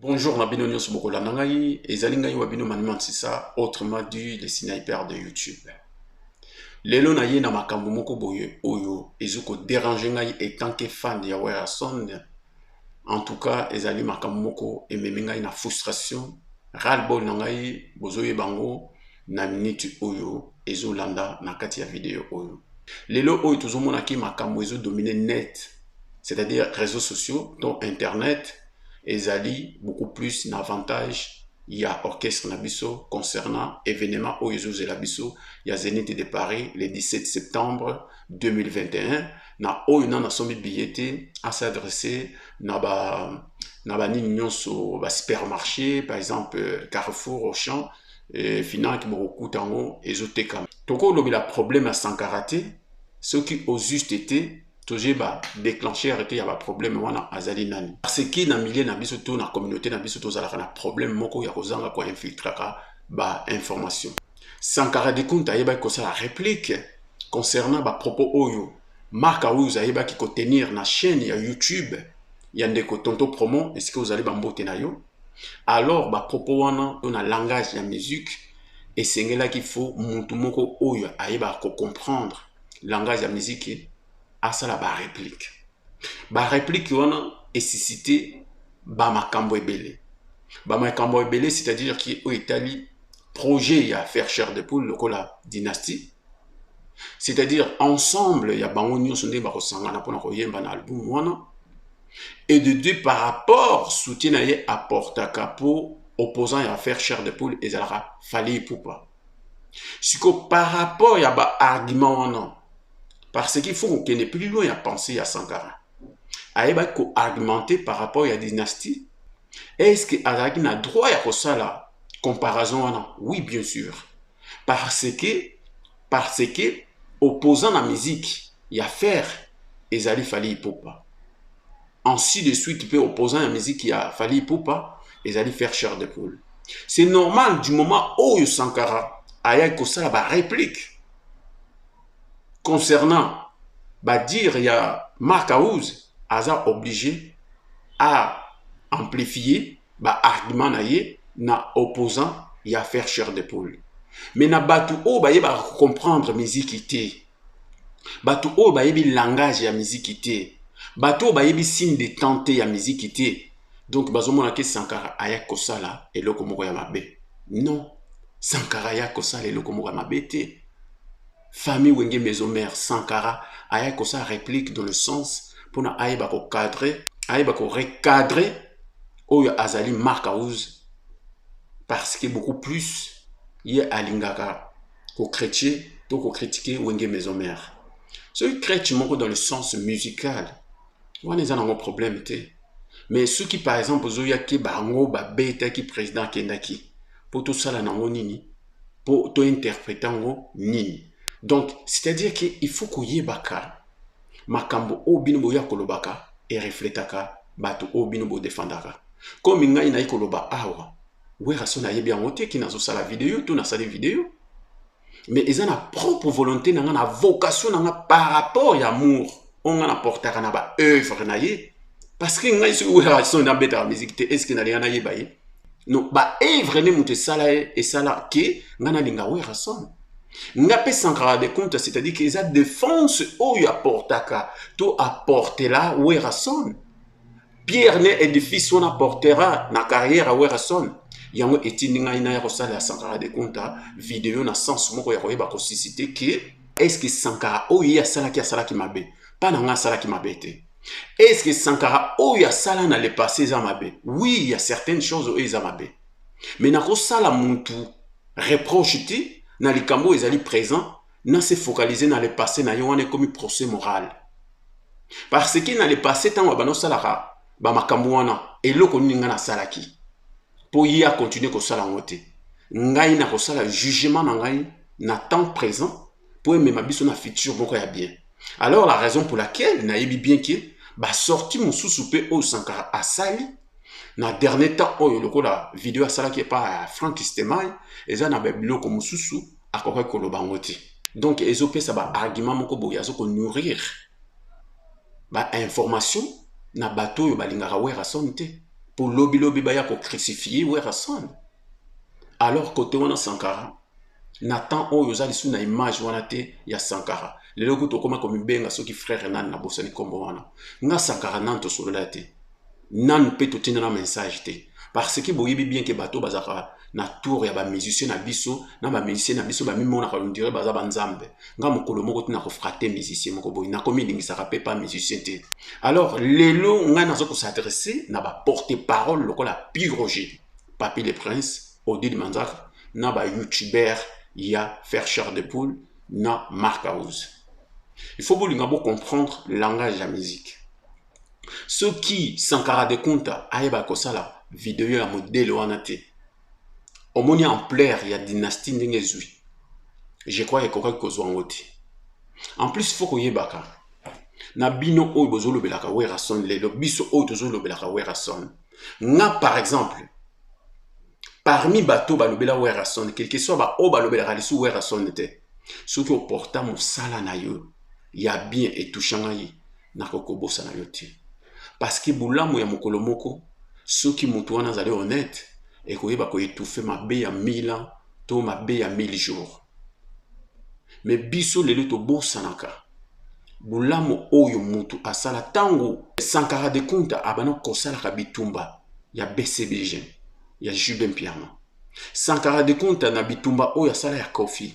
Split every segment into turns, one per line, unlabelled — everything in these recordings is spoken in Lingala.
Bonjour na bino nyoso bokolanda ngai ezali ngai wa bino Maniman Sisa autrement dit le sniper de YouTube. Lelo na ye na makambo moko boye oyo ezo ko déranger ngai étant que fan ya Werrason. En tout cas ezali makambo moko ememi ngai na frustration ras-le-bol na ngai bozoyeba yango na minute oyo ezolanda na kati ya video oyo lelo oyo tozomonaki makambo ezodomine net c'est-à-dire réseaux sociaux to internet ezali beaucoup plus na avantage ya orchestre na biso concernant événement oyo ezozela biso ya Zenith de Paris le 17 septembre 2021 na oyo nana asombi billet te a s'adresser na ba na banini nyonso ba supermarché par exemple euh, carrefour auchan euh, finanki bokokuta yango ezotekama tokolobela problème ya sankara te soki au juste te tozoyeba déclencheur te ya baproblème wana azali nani parce que na milieu na biso to na communauté na biso tozalaka na problème moko ya kozanga koinfiltraka bainformation sankara dekunta ayebaki kosala réplique concernant bapropos oyo mark awuz ayebaki kotenir na chaîne ya youtube ya ndeko tonto promo esika ozali bambote na yo alors bapropos wana to na langage ya musique esengelaki fo motu moko oyo ayebaka kocomprendre langage ya miziki asala ba replique ba replique wana esisite ba makambo ebele ba makambo ebele c'est-à-dire ki oyo etali projet ya faire cher de poule lokola dynastie c'est-à-dire ensemble ya bango nyonso nde bakosangana mpona koyemba na album wana et de deux par rapport soutien na ye apportaka mpo opposant ya faire cher de poule ezalaka fali ipupa siko par rapport ya ba argument wana parce qu'il faut kokende plus loin ya pensée ya sankara ayebaki ko argumenter par rapport ya dynastie est ce que azalaki na droit ya kosala comparaison wana oui bien sûr parce que parce que opposant na musique ya faire ezali fali ipupa ainsi de suite mpe opposant ya miziki ya fali ipupa ezali faire chair de poule c'est normal du moment oyo sankara ayaki kosala baréplique concernant badire ya mark house aza oblige a amplifie baargument na ye na opposant ya faire chair de poule mais na bato oyo baye bacomprendre miziki te bato oyo bayebi langage ya miziki te bato oyo bayebi signe de temps te ya miziki te donc bazomona ke sankara aya kosala eloko moko ya mabe non sankara aya kosala eloko moko ya mabe te famille wenge maison mare sankara aya kosala réplique dans le sens mpona ayeba kocadre ayeba korecadre oyo azali mark house parce que beaucoup plus ye alingaka ko critiquer to ko critiquer wenge maison mère soki crèche moko dans le sens musical wana eza nango problème te mais soki par exemple ozoyaki bango babetaki président akendaki mpo tosala nango nini mpo tointerprete yango nini donc c'est-à-dire ke il faut koyebaka makambo oyo bino boya kolobaka erefletaka bato oyo bino bodefandaka komi ngai nayi koloba awa Werrason ayebi yango te ki nazosala video to nasali video mais eza na propre volonté na nga na vocation na nga par rapport ya amour oyo nga naportaka na ba œuvre na ye parce que ngai soki werrason nabetaka miziki te eske nalinga nayeba ye no ba œuvre nde moto esala ye esala ke nga nalinga werrason nga mpe sankara de compte c'est-à-dire ke eza défense oyo aportaka to aportela werrason pierre ne edifice wana portera na carrière ya werrason yango etindi ngai naya kosala ya sankara de kunta video na sens moko ya koyeba kosisite ke eske sankara oyo ye asalaki asalaki mabe mpa na ngai asalaki mabe te eske sankara oyo asala na le passé eza mabe oui ya certaines choses oyo eza mabe me nakosala mutu reproche te na likambo oyo ezali présent na se focaliser na le passé na ye wana ekomi procès moral parce que na le passé ntango abanda osalaka bamakambo wana eloko nini ngai nasalaki mpo ye akontinue kosala yango te ngai nakosala jugement na ngai na temps présent mpo emema biso na futur moko ya bien alors la raison pour laquelle nayebi bien ke basorti mosusu mpe oyo sankara asali na dernier temps oyo lokola video asalaki epa ya frank stemay eza na babiloko mosusu akokaki koloba yango te donc ezopesa baargument moko boye azo konourrir bainformation na bato oyo balingaka werrason te mpo lobilobi baya kocrucifie werrason alors kote wana sankara na temps oyo oza lisusu na image wana te ya sankara lelo kutu okoma komibenga soki frère nani nabosani nkombo wana nga sankara nani tosolola te nanu pe totinda na message te parce que boyebi bien ke bato bazalaka na tour ya bamusicien na biso na bamusicien na biso bamimonaka ondire baza banzambe nga mokolo moko ti nakofrate musicien moko boye nakomilingisaka pe pa musicien te alors lelo ngai naza kosadresse na baporte parole lokola piroge papi le prince odile manzaka na bayoutubeur ya fercher de poule na mark house il faut bolinga bocomprendre langage ya musique soki sankara de kunta ayeba kosala video ya modele wana te omoni ampleur ya dynastie ndenge ezwi je crois ekokaki kozwa yango te en plus fo koyebaka na bino oyo bozolobelaka werason lelo biso oyo tozolobelaka werason nga par exemple parmi bato balobela werason quelque soit baoyo balobelaka lisu werason te soki oporta mosala na yo ya bien etouchanga ye nakoki kobosana yo te parceke bolamu ya mokolo moko soki moto wana azali honnete ekoyeba koetufe mabe ya 1000 ans to mabe ya 1000 jours me biso lelo tobosanaka bolamu oyo moto asala ntango sankara de kunta abana kosalaka bitumba ya bcbg ya jude mpiana sankara de kunta na bitumba oyo asala ya kofi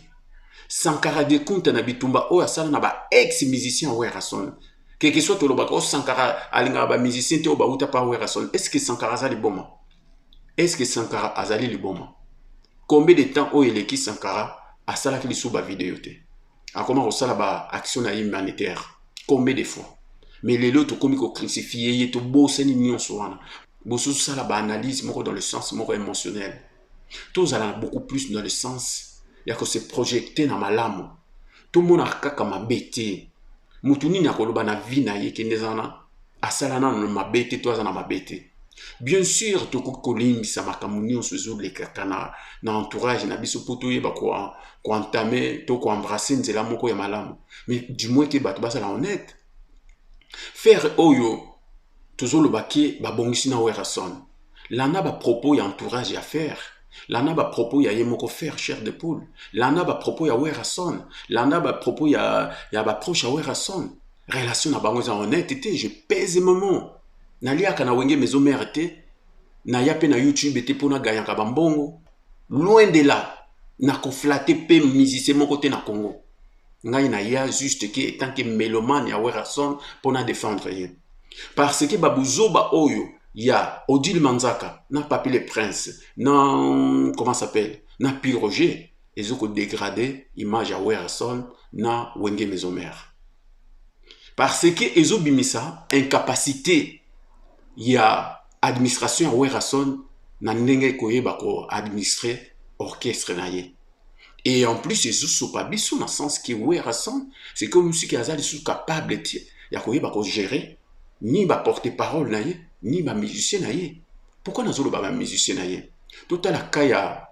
sankara de kunta na bitumba oyo asala na ba ex musicien werrason keke soit tolobaka o oh, sankara alingaka ba musicien te oyo bawuta pa werrason est ce que sankara aza liboma est ce que sankara azali liboma combien de temps oyo eleki sankara asalaki lisusu bavideo te akoma kosala ba action na ye humanitaire combien de fois mais lelo tokomi kocrucifie ye tobosani nyonso wana bososala baanalyse moko dans le sens moko émotionnel tozala beaucoup plus dans le sens ya kose projecte na malamu tomonaka kaka mabe te motu nini akoloba na vie na ye kende zana asala nano mabe te to aza na mabe te bien sûr tokoki kolimbisa makambo nyonso ezolekaka na, na entourage na biso mpo toyeba koentame to koembrasse nzela moko ya malamu mais du moins ke bato bazala honnête faire oyo tozoloba ke babongisi na werrason landa bapropos ya entourage ya faire landa bapropos ya ye moko faire chair de poule landa bapropos ya werrason landa bapropos ya, ya baproche ya werrason relation na bango eza honnête te je pèse maman naliaka na wenge maison mère te naya mpe na youtube te mpo naganyaka bambongo loin de là nakoflate mpe musicien moko te na congo ngai naya juste ke etant ke melomane ya werrason mpo na défendre ye parce que babuzoba oyo ya odile manzaka na papi le prince na comment s'appelle na pi roger ezo ko degrader image ya Werrason na Wenge Maison Mère parce que ezo bimisa incapacité ya administration ya Werrason na ndenge koyeba ko administrer orchestre na ye et en plus ezo sopa biso na sens que Werrason c'est comme si aza lisusu capable te ya koyeba ko gérer ni ba porte parole na ye ni ba musicien na ye pourquoi nazoloba ba musicien na ye totala ka ya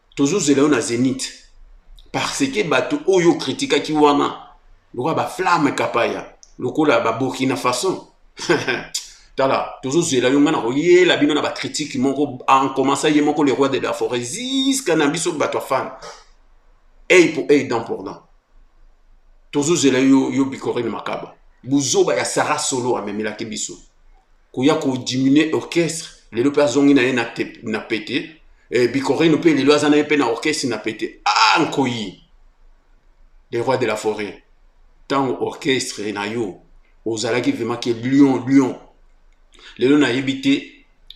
tozozela yo na zenith parce que bato oyo okritikaki wana lokola baflamme kapaya lokola baburkina façon tala tozozela yo ngai nakoyela bino na bakritike moko encomença ye moko le roi de la forêt ziska na biso bato ya fane ei po ei dan pour dan tozozela yo yo bikorine makaba buzoba ya sara solo amemelaki biso koya ko diminuer orchestre lelo mpe azongi na ye na, na pete eh, bikorino mpe lelo aza na ye mpe na orchestre na pete ah nkoyi le roi de la forêt ntango orchestre na yo ozalaki vraiment ke lion lion lelo nayebi te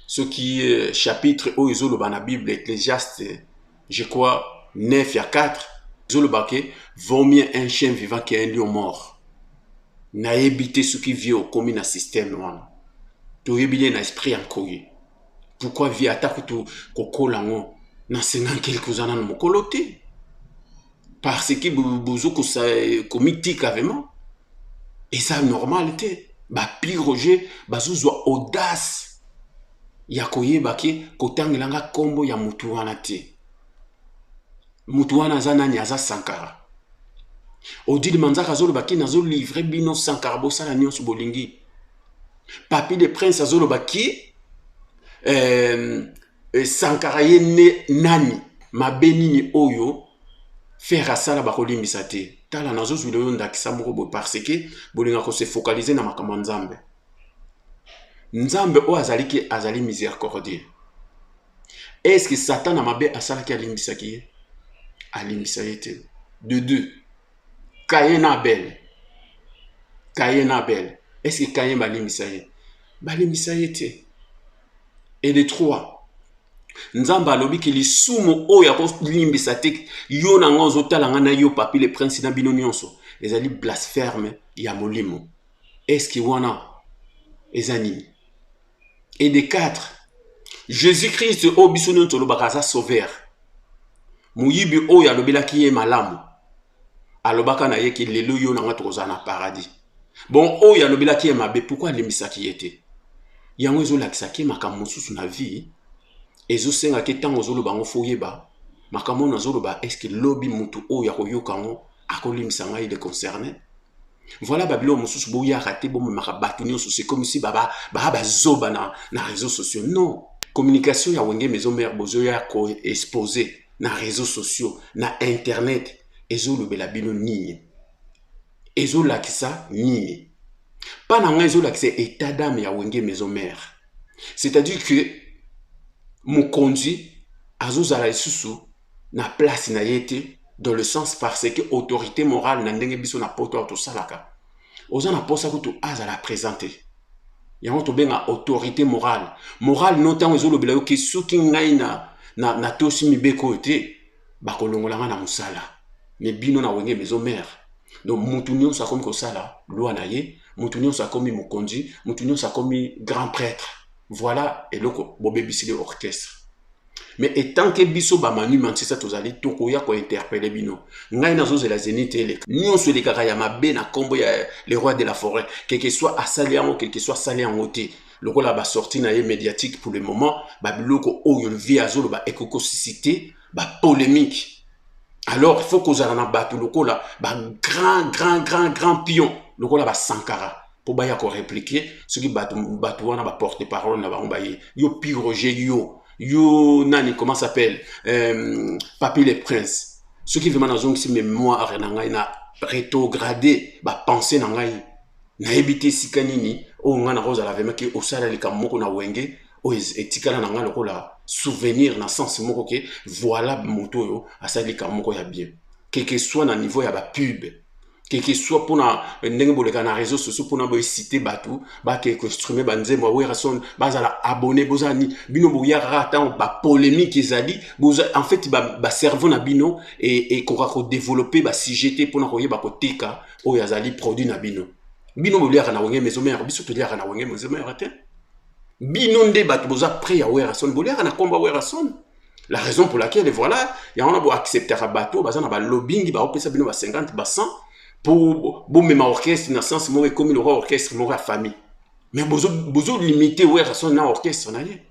soki euh, chapitre oyo ezoloba na bible ecclesiaste je crois 9 ya 4 ezoloba ke vaut mieux un chien vivant que un lion mort nayebi te soki vie okomi na système wana toyebi nde na esprit ya nkoye pourquoi vie ata kutu kokola yango na 50 kelke oza nano mokolo te parce que bozo komitika vraiment eza normal te bapli roger bazozwa audace ya koyeba ke kotangela nga nkombo ya motu wana te motu wana aza nani aza sankara odile manzaka azoloba ki nazolivre bino sankara bosala nyonso bolingi papi de prince azoloba ki euh, E, sankara ye ne nani mabe nini oyo ferre asala bakolimbisa te tala nazozwila yo ndakisa moko boye parce que bolinga kose focaliser na makambo ya nzambe nzambe oyo azali ke azali miséricordie est ce que satana mabe asalaki alimbisaki ye alimbisa ye te de deux kaye na abele kaye na abele est ce que kaye balimbisa ye balimbisa ye te et de trois nzambe alobi ke lisumu oyo akolimbisa te yo na ngai ozotala ngai na yo papi le prince na bino nyonso ezali blasphème ya molimo eske wana eza nini et de quatre jésus christ oyo biso nyonso olobaka aza sauveur moyibi oyo alobelaki ye malamu alobaka na ye ke lelo yo na nga tokozala na paradis bon oyo alobelaki ye mabe pourkui alimbisaki ye te yango ezolakisaki makambo mosusu na vie ezosengaki ntango ozoloba yango fo oyeba makambo oyo nazoloba eske lobi motu oyo akoyoka yango akolimbisa ngai le concerne Voilà Babylon mususu bo yaka te bo memaka bato nyonso c'est comme si baba ba bazoba na na réseaux sociaux. Non, communication ya Wenge Maison Mère bozo ya ko exposer na réseaux sociaux, na internet ezo lobela bino nini? Ezo lakisa nini? Pas na ngai ezo lakisa état d'âme ya Wenge Maison Mère. C'est-à-dire que mokonzi azozala lisusu na place na ye te dans le sens parce que autorité morale na ndenge biso na poto awa tosalaka oza na posa kutu azala présent te yango tobenga autorité morale morale no ntango ezolobela yo ke soki ngai na, na, na tosi mibeko oyo te bakolongola ngai na mosala me bino na wenge maison mare donc mutu nyonso akomi kosala lwa na ye mutu nyonso akomi mokonzi mutu nyonso akomi grand prêtre voilà eloko bobebisili orchestre mais etant ke biso bamanu manchester tozali tokoya kointerpele bino ngai nazozela zenite eleka nyonso elekaka ya mabe na nkombo ya le roi de la forêt quelque soit asali yango quelque soit asali yango te lokola basorti na ye médiatique pour le moment babiloko oyo vie azoloba ekoki kosisite bapolémique alors faut kozala na bato lokola bagrand grand grand grand pion lokola basankara mpo baya koreplike soki bato, bato wana baporte parole na bango baye yo pi roger yo yo nani comment s'appelle euh, papi le prince soki vraimen nazongisi mémoire na ngai na rétrograde bapense na ngai nayebi te esika nini oyo oh, ngai nakozala vraimen ke osala likambo moko na wenge oyo oh, etikala na ngai lokola souvenir na sens moko ke voilà moto oyo asali likambo moko ya bien keke soit na niveau ya bapube que que soit mpona euh, ndenge boleka na réseau sociaux mpona boesite bato bake kostrume banzembo ya werrason bazala abonné bozala nini bino boyaka kaka ntango bapolémique ezali en fait bacerveau ba na bino ekoka kodeveloppe basujet te mpona koyeba koteka oyo azali produit na bino bino boliaka na wenge maison mère biso toliaka na wenge maison mère te bino nde bato boza près ya werrason boliaka na nkombo ya werrason la raison pour laquelle voilà yango na boacceptaka bato baza na balobingi baopesa bino ba 50 ba 100 mpo bomema orchestre na sens moko ekomi lokwa orchestre moko ya famille mais bozolimite werrason na orchestre na ye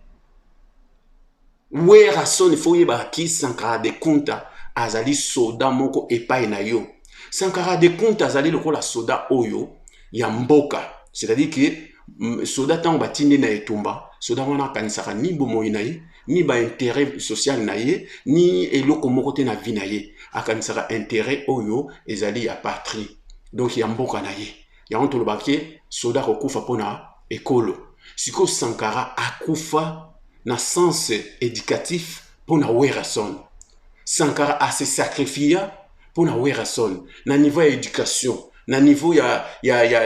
werrason ifo oyebaka ki sankara de kunta azali soda moko epai na yo sankara de kunta azali lokola soda oyo ya mboka c'est-à-dire ke soda ntango batindi na etumba soda wana akanisaka ni bomoi na ye ni ba intérêt social na ye ni eloko moko te na vie na ye akanisaka intérêt oyo ezali ya patrie donc ya mboka na ye yango tolobaka ke soda akokufa mpo na ekolo sikoyo sankara akufa na sens éducatif mpo na werrason sankara ase sacrifia mpo na werrason na niveau ya éducation na niveau ya, ya, ya,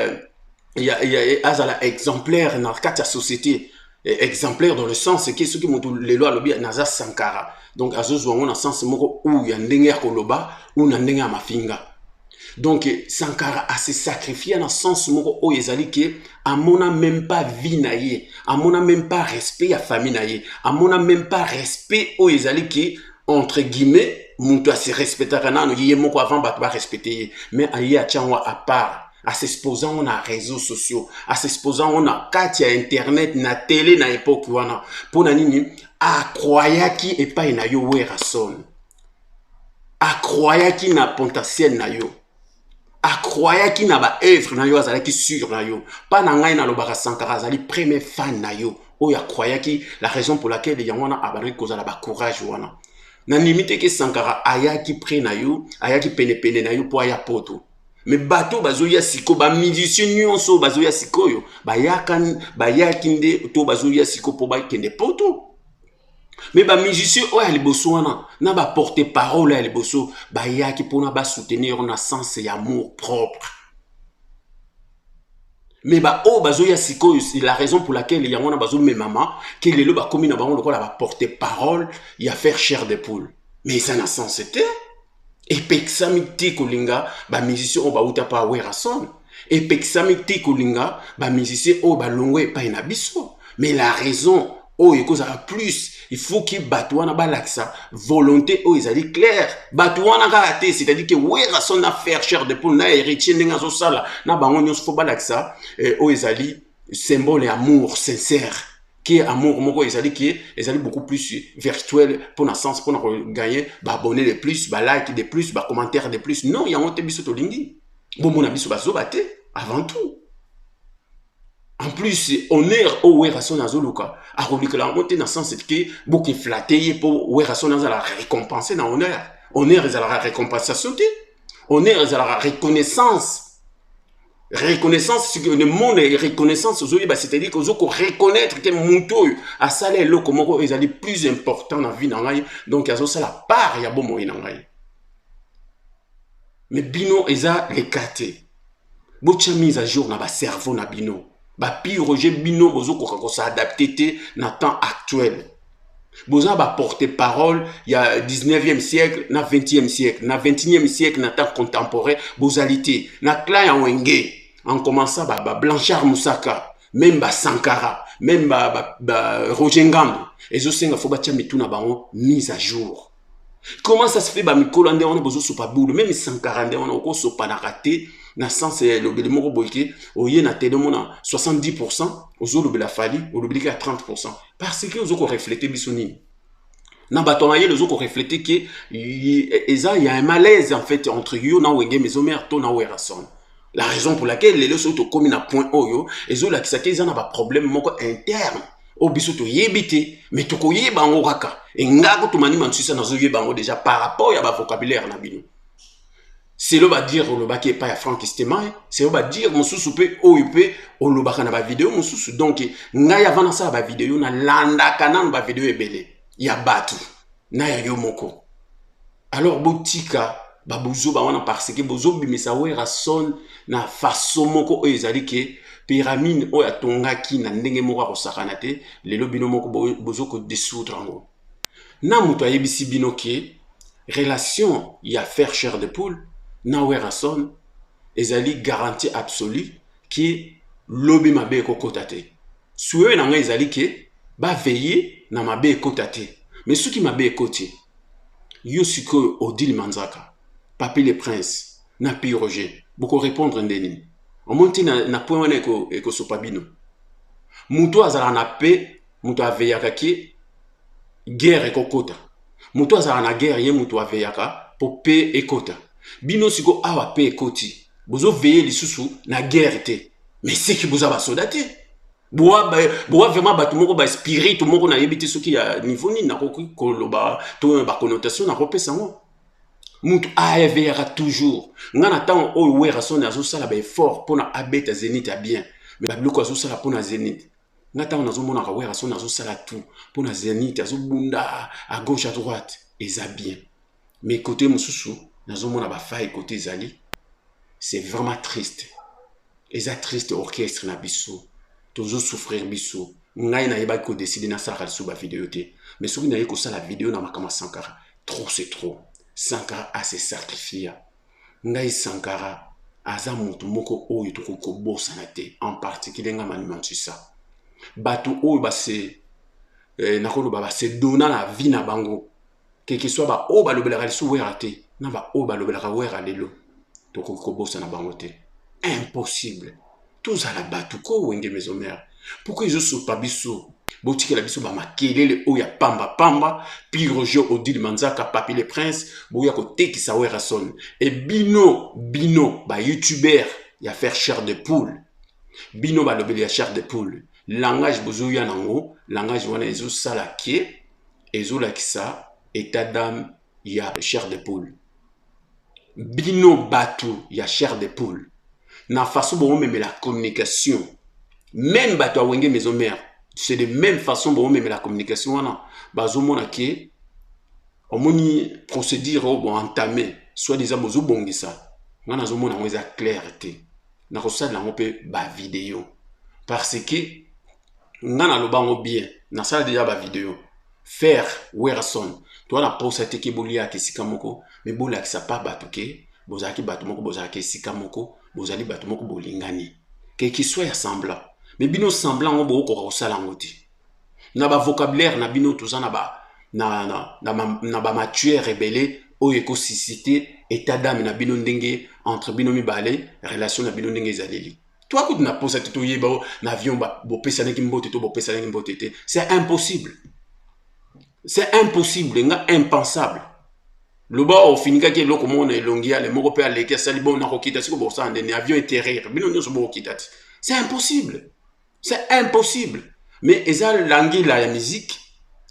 ya, ya, ya azala exemplaire na kati ya société eh, exemplaire dans le sens eke soki moto lelo alobi naza sankara donc azozwa yango na sens moko ou ya ndenge ya koloba ou na ndenge ya mafinga donc sankara ase sacrifia na sens moko oyo ezali ke amona même pas vie na ye amona même pas respect ya famille na ye amona même pas respect oyo ezali ke entre guillemets moto asirespectaka nano ye moko avant bato barespecte ye mais aye atya yango apart asexposa yango na réseau sociaux asexposa yango na kati ya internet na tele na epoki wana mpo na nini akroyaki epai na yo werrason akroyaki na potentiel na yo akroyaki na baœuvre na yo azalaki sur na yo mpa na ngai nalobaka sankara azali premier fan na yo oyo akroyaki la raison pour laquelle yango wana abandaki kozala bacourage wana nandimi te ke sankara ayaki près na yo ayaki penepene na yo mpo aya poto me bato bazoya sikoyo bamusicien nyonso oyo bazoya sikoyo bayaki nde to bazoya sikoyo mpo bakende poto me bamusicien oyo ya liboso wana na baporte parole ya liboso bayaki mpona basoutenir yango na sens ya amour propre me baoyo bazoya sikoyo la raison pour laquelle yango wana bazomemama ke lelo bakomi na bango lokola baporte parole ya faire chair de poule me eza na sens te epekisami te kolinga bamusicien oyo bauta mpa werrason epekisami te kolinga bamusicien oyo balongwe epai na biso mais la raison oyo ekozala plus il faut ke bato wana balakisa volonté oyo ezali claire bato wana kaka te c'est-à-dire ke werrason na faire cher de poule na héritier ndenge azosala na bango nyonso fo balakisa eh, oyo ezali symbole ya amour sincère qui est amour moko ezali qui ezali beaucoup plus virtuel pour na sens pona kogagner baabonne de plus balike de plus bacommentaire de plus non yango te biso tolingi bomona biso bazoba te avant tout en plus honneur oyo werrason azoluka akolukela yango te na sens ke bokeflate ye mpo werrason azala récompense na honneur honneur ezalaka récompensation te honneur ezalaka reconnaissance reconnaissance le monde est reconnaissance ozoyeba c'est-à-dire que ozo ko reconnaître que moto oyo asala eloko moko ezali plus important na vie na ngai donc azosala part ya bomoi na ngai mais bino eza lekate botya mise à jour na bacerveau na bino bapiroge bino bozokoka kosaadapte te na temps actuel boza ba porte parole ya 19e siècle na 20e siècle na 21e siècle na temps contemporain bozali te na clan ya wenge en commençant ba, ba blanchard musaka meme ba sankara meme ba, ba, ba roger ngambo ezosenga fo batya mitu na bango mise à jour comment ça se fait bamikola nde wana bozosopa bulu meme sankara nde wana okosopanaka te na sens ya elobeli moko boye ke oye na tele omona 70 pourcent ozolobela fali olobeli ke ya 30 pourcent parce que ozo koreflete biso nini na bato ya mayele ozo koreflete ke eza ya malaise en fait entre yo na wenge maison mare to na werrason la raison pour laquelle lelo soki tokomi na point oyo ezolakisa te eza na baproblème moko interne oyo biso toyebi te mais tokoyeba yango kaka enga kotumani mansusa nazoyeba yango déjà par rapport ya bavocabulaire na bino selo badire olobaki epai ya frank stemay selo badire mosusu mpe oyo mpe olobaka na bavideo mosusu donk ngai avant nasala bavideo nalandaka nano bavideo ebele ya bato na ya yo moko alors botika babuzoba wana parce que bozobimisa werrason na faso moko oyo ezali ke pyramide oyo atongaki na ndenge moko akosakana te lelo bino moko bozokodesoudre yango na moto ayebisi bino ke relation ya faire cher de poule na werrason ezali garantie absolue ke lobi mabe ekokota te Souhait na ngai ezali ke ba veiller na mabe ekota te. Mais soki mabe ekoti, yo sikoyo Odile Manzaka, Papy le Prince na Pi Roger boko repondre nde nini? Omoni te na, na point wana ekosopa bino. Moto azalaka na paix, moto aveyaka ke guerre ekokota moto azalaka na guerre ye moto aveyaka mpo pe ekota bino siko awa pe ekoti bozoveye lisusu na guerre te mais seki boza basoda te boa vraiment bato moko baspirite moko nayebi te soki ya niveau nini nakoki koloba to baconnotation nakopesa yango moto aeveyaka toujours ngai na ntango oyo werasone azosala baeffort mpo na abeta zenit ya bien mais babiloko azosala mpo na zenit nga ntango nazomonaka werrason azosala tout mpo na zenit azobunda à gauche à droite eza bien mais kote mosusu nazomona bafai kote ezali c'est vraiment triste eza triste orchestre na biso tozosouffrir biso ngai nayebaki kodeside nasalaka lisusu bavideo te mais soki naye kosala video na makambo ya sankara trop c'est trop sankara ase sacrifia ngai sankara aza moto moko oyo tokoki kobosana te en particulier ngai manimansusa bato oyo base eh, nakoloba base dona na vie na bango kekesoi baoyo balobelaka lisu wera te na baoyo balobelaka wera lelo tokoki kobosana bango te impossible tozala bato ko wenge maison mère pourkoi ezosopa biso botikela biso bamakelele oyo ya pambapamba pi roger odile manzaka papi le prince boya kotekisa werrason e bino bino bayoutubeur ya faire chair de poule bino balobeli ya chair de poule langage bozoya nango langage wana ezosala ke ezolakisa état d'âme ya chair de poule bino bato ya chair de poule na façon bomomemela communication meme bato ya wenge maison mère c'est de même façon bomomemela communication wana bazomona ke omoni procédure oyo boentame soit disant bozobongisa ngai nazomona yango eza claire te nakosalela yango mpe bavideo parce que nga naloba yango bien nasala deja bavideo faire werson toa na posa te ke boliaka esika moko me bolakisa pa bato ke bozalaki bato moko bozalaka esika moko bozali bato moko bolingani ke kiswa ya semblant me bino semblant yango bokokoka kosala yango te na bavocabulaire na bino toza na ba na, na, na, na, na bamatuere ebele oyo ekosisite etat dame na bino ndenge entre bino mibale relation na bino ndenge ezaleli toi kutu na posa te toyeba o na avion bopesanaki mbote to bopesanaki mbote te c'est impossible c'est impossible nga impensable loba ofinikaki eloko moko na elongi yale moko mpe aleki asali bo nakokita siko bokosala nde ni avion eterrir bino nyonso bokokita te c'est impossible c'est impossible mais eza langila ya miziki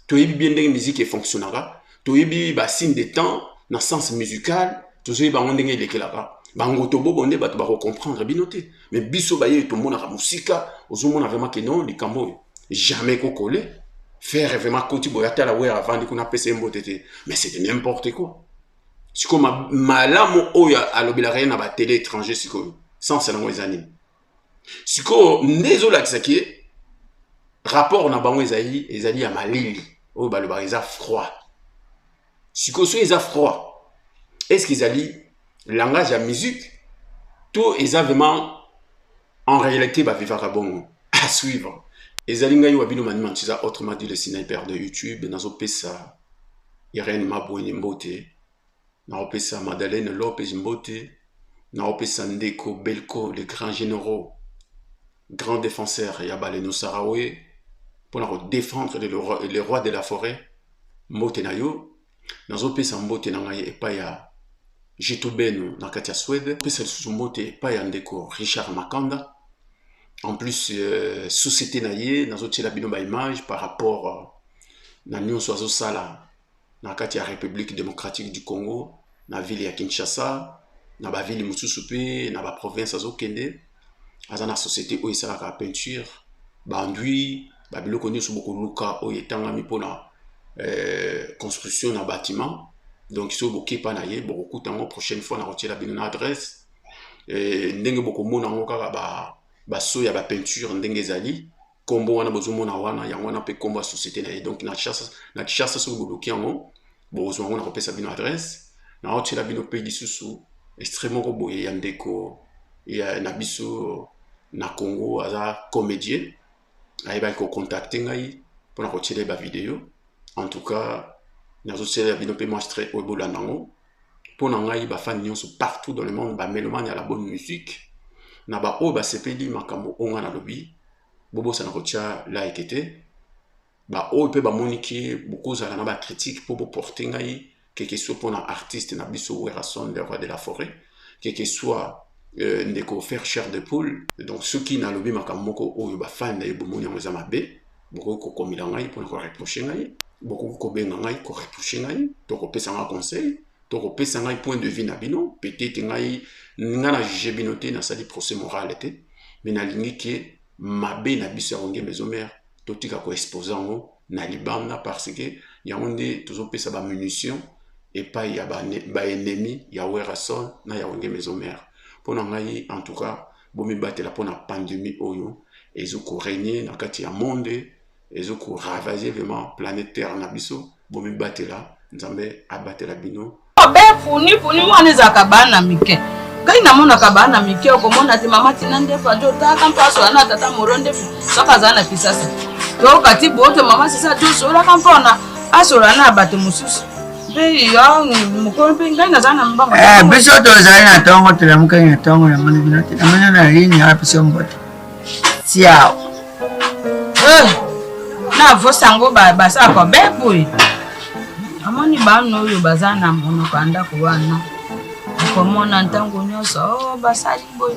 toyebi bien ndenge miziki efonctionnaka toyebi ba signe de temps na sens musical tozoyeba yango ndenge elekelaka bango tobobo nde bato bakocomprendre bino te mais biso baye tomonaka mosika ozomona vraiment ke non likambo oyo jamais kokole faire vraiment koti boya tala wer avandi kuna apesa ye mbote te mais c'est de n'importe quoi sikoyo malamu oyo alobelaka ye na batele étranger sikoyo sense yango eza nini sikoyo nde ezolakisa ke rapport na bango ezali ezali ya malili oyo balobaka eza froid sikoyo soki eza froid est ce que ezali langage ya musique to eza vraiment en réalité bavivaka bongo à suivre ezali ngai wa bino manima ntiza autrement dit le sniper de youtube nazopesa irene mabweni mbote naopesa madalene lopez mbote naopesa ndeko belco le grand généraux grand défenseur ya baleno sarawe mpona kodefendre le roi de la forêt mbote na yo nazopesa mbote na ngai epai ya Jitu Beno na kati ya Swede pesa lisusu mbote epai ya ndeko Richard Makanda en plus euh, société na ye nazotyela bino ba image par rapport euh, na nyonso azosala na kati ya Republique democratique du Congo na ville ya Kinshasa na ba ville mosusu pe na ba province azokende aza na société oyo esalaka peinture bandui ba biloko nyonso bokoluka oyo etangami mpona euh, construction na bâtiment donc soki bokepa na ye bokokuta yango prochaine fois na kotiela bino na adresse euh, ndenge bokomona yango kaka ba baso ya bapeinture ndenge ezali kombo wana bozomona wana yango wana mpe kombo ya société na ye donc na kishasa soki boluki yango bokozwa yango na kopesa bino adresse na otyela bino mpe lisusu extrait moko boye ya ndeko ya na biso na congo aza comédien ayebaki kocontacte ngai mpona kotyela ye bavideo en tout cas nazotyela bino mpe mwa extrait oyo bolanda yango mpo na ngai bafani nyonso partout dans le monde bamelomane ya la bonne musique na baoyo basepeli makambo oyo ngai nalobi bobosana kotya like te baoyo mpe bamoni ke bokozala na bacritique mpo boporte ngai keke soit mpo na artiste na biso werrason le roi de la forêt keke soit euh, ndeko faire chair de poule donc soki nalobi makambo moko oyo bafani na ye bomoni yango eza mabe bokoki kokomela ngai mpona koreproche ngai bokoki kobenga ngai koreproche ngai to kopesa ngai conseil to kopesa ngai point de vue na bino peut-être ngai ngai na juge bino te nasali procès moral te mais nalingi ke mabe na biso ya kongemba ezomere totika koexpose yango na libanda parce que yango nde tozopesa bamunition epai ya baennemi ya werrason na ya kongemba ezomere mpo na ngai en tout cas bomibatela mpo na pandemie oyo ezo koregne na kati ya monde ezo koravage vraiment planète terre na biso bomibatela nzambe abatela bino be puni
puni wana ezalaka bana mike ngai namonaka bana mike okomona te mama tina ndefu adi otaka mpaso ya na tata moro ndefu soki azala na kisasa tokati boto mama sisa tosolaka mpona asola na bato mosusu
Eh, biso tozali na ntongo tolamukaki na ntongo na moni bino te namoni na lini wana biso mbote siao eh,
navosa yango baza kobebwe amoni bana oyo baza na monoko ya ndako wana okomona ntango nyonso oh, basali boye